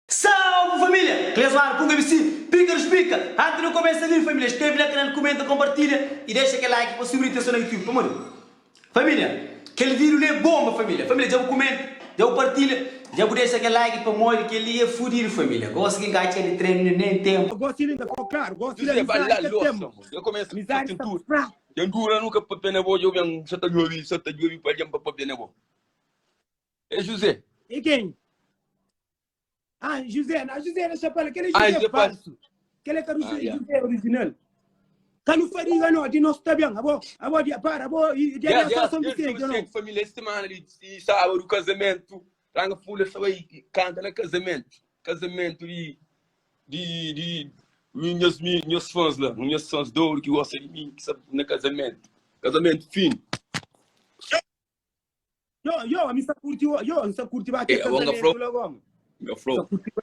Salve família! Clesmar Pug ABC, Pika dos Pika! Antes de começa li família, escreve na canal, comenta, compartilha e deixa kel like pa subir atenção na YouTube, pamodi família kel vídeo li é bomba família! Família dja bu comenta, dja bu partilha, dja bu deixa kel like pamodi kel li é fudido família! Gosi ki n'ka txeu di trenu neném tempo. Gosi li n'ka fo claro, gosi li amizadi ka tenba, amizadi sta pa spradu. Ten dura nu ka pâpia na bo, dja ben sa ta djobi, sa ta djobi pa algen pa pâpia na bo. É José. É kenha? Ah, José, na José na Chapala, kel é Ah, José José falsu. Kel é ka José, Ah, yeah. José original. Ka nu fadiga no, di nos ta ben, abo, abo dia para, abo, e dia dia Yeah, yeah, só São desde Vicente, não. Vicente, família, esta semana ali, e sábado, casamento, Ranga Fula sa bai kanta na kazamentu. Kazamentu di, di, di mi, nhas, mi, nhas fãs la, nhas fãs de ouro que gosta de mim, que sa, na kazamentu. Kazamentu fino. Yo, yo, mi sa curti, yo, mi sa curti ba É, aquele agora nga casamento flow. lá, como? Nga Sa flow. curti ba-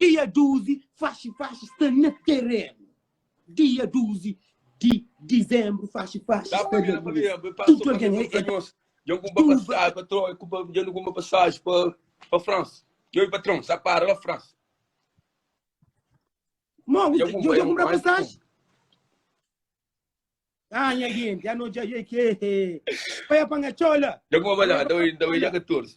Dia duzi, faxi-faxi sta na terenu Dia duzi di dizenbru, faxi-faxi sta na terenu Dia duzi di dizenbru, faxi-faxi sta na terenu Tudu algen é é Tuba Dja-m kunba pasaji pa Troia Kuba Dja-nu kunba pasaji pa pa Fransa Yo i patron sa para la Fransa Mon, Dja kunba Dja-m kunba pasaji Ah, nha genti, ah, no dja Ei, ke Pa ya panga txola Dja kunba balada Oi, nta bai dja katorzi.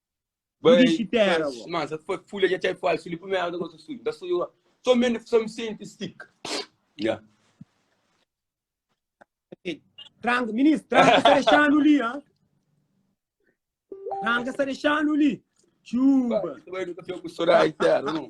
Bai, Dixi terra, mas, bo. mas foi folha de chai falso, li primeira vez que eu sou sujo, da sujo, só me, só me sente stick. Yeah. Tranca, ministro, tranca está deixando ali, hã? Tranca está deixando ali. Chuba. Bai, nunca fico com chorar, entero, não.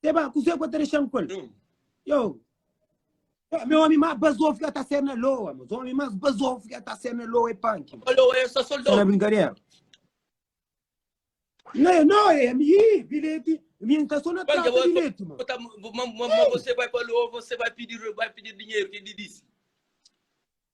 Te ba, kuzê ku a ta dexa-m ku el? Yo, Yo, mi omi más bazofu ki a ta ser na Loa, mas omi más bazofu ki a ta ser na Loa é Panki. Ô Loa, é sa Sa na soldadu. brinkadera? Nê, nô, ê, ami, hi, bilheti, mi N ta sô na Panki, trasa bo, bilheti, ma. bo ta- ma, ma, ma você vai pa Loa, você vai pedir, vai pedir dinheiro, que ele disse.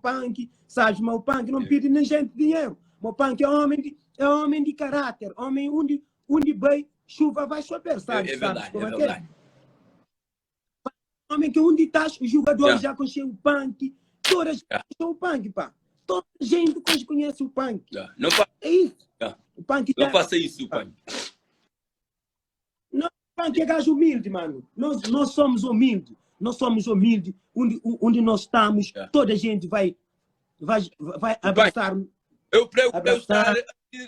Panki, sabes, mas o Panki não pede nem gente dinheiro. Mas o Panki é homem de, é homem de caráter, homem onde, onde vai, chuva vai chover, sabes? É, é verdade, sabes como é, é verdade. É? Homem que onde estás, o jogador yeah. já conhece o Panki, toda a gente yeah. conhece o Panki, pá. Toda a gente que conhece o Panki. Yeah. Não fa... É isso. Yeah. O Panki não tá... faça isso, Panki. Nós fã que é gajo humilde, mano. Nós, nós somos humilde. Nós somos humilde. Onde, onde nós estamos, é. toda a gente vai, vai, vai abraçar. Eu prego para estar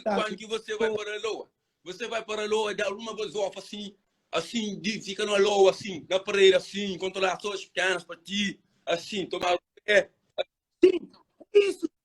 quando que você vai para a Loa. Você vai para a Loa, dá uma gasofa assim, assim, de, fica na Loa, assim, na parede, assim, controlar as suas pequenas para ti, assim, tomar o pé. Sim, isso,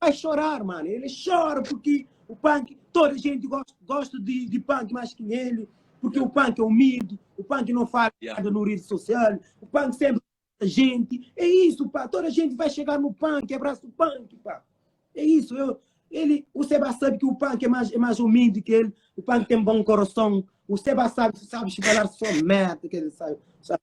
Bai xorar mano, ele xora purki o Panky toda gente gosta, gosta di, di Panky mais ki ele, purki o Panky é humilde, o Panky não fala Yeah. nada no rede social, o Panky sempre abraça gente, é isso pá, toda gente vai chegar no Panky, abraça o Panky pá, é isso, eu, ele, o Seba sabe que o Panky é mais, é mais humilde que ele, o Panky tem bom coração, o Seba sabe, sabe falar só merda que ele sabe, sabe.